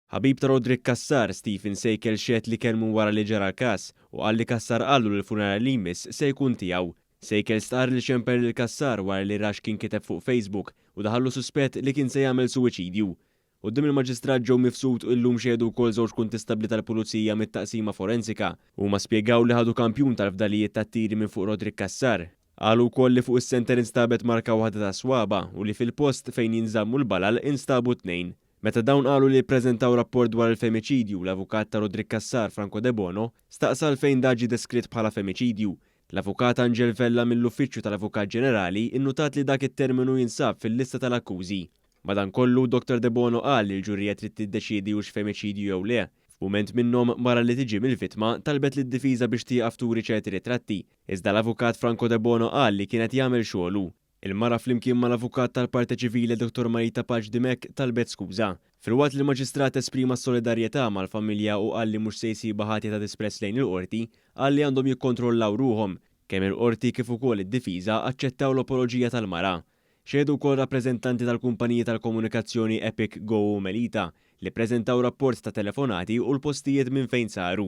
Ħabib ta' Roderick Cassar, Stephen Sejkel xehed li kellmu wara li ġara l-każ u qal li Cassar qallu li l-funeral li jmiss se jkun tiegħu. Sejkel stqarr li xemper lil Cassar wara li ra x'kien kiteb fuq Facebook u daħallu suspett li kien se jagħmel suwiċidju. Quddiem il-Maġistrat Joe Mifsud illum xehdu wkoll żewġ kuntistabbli tal-Pulizija mit-Taqsima Forensika. Huma spjegaw li ħadu kampjun tal-fdalijiet tat-tiri minn fuq Roderick Cassar. Qalu wkoll li fuq is-senter instabet marka waħda tas-swaba' u li fil-post fejn jinżammu l-balal instabu tnejn. Meta dawn qalu li ppreżentaw rapport dwar il-femiċidju, l-avukat ta' Roderick Cassar, Franco Debono, staqsa għalfejn dak ġie deskritt bħala femiċidju. L-Avukat Angel Vella mill-Uffiċċju tal-Avukat Ġenerali nnutat li dak it-terminu jinsab fil-lista tal-akkużi. Madankollu, Dottor Debono qal li l-ġurija trid tiddeċiedi hux femiċidju jew le. F'mument minnhom, mara li tiġi mill-vittma, talbet lid-difiża biex tieqaf turi ċerti ritratti, iżda l-avukat Franco Debono qal li kien qed jagħmel xogħlu. Il-mara flimkien mal-avukat tal-Parte Civile Dottor Marita Paċ Dimech talbet skuża. Filwaqt li l-Maġistrat esprima s-solidarjetà mal-familja u qal li mhux se jsibha ħatja ta' disprezz lejn il-Qorti, qal li għandhom jikkontrollaw ruħhom. Kemm il-Qorti kif ukoll id-difiża aċċettaw l-apoloġija tal-mara. Xehdu wkoll rappreżentanti tal-kumpaniji tal-komunikazzjoni Epic, Go u Melita, li ppreżentaw rapport ta' telefonati u l-postijiet minn fejn saru.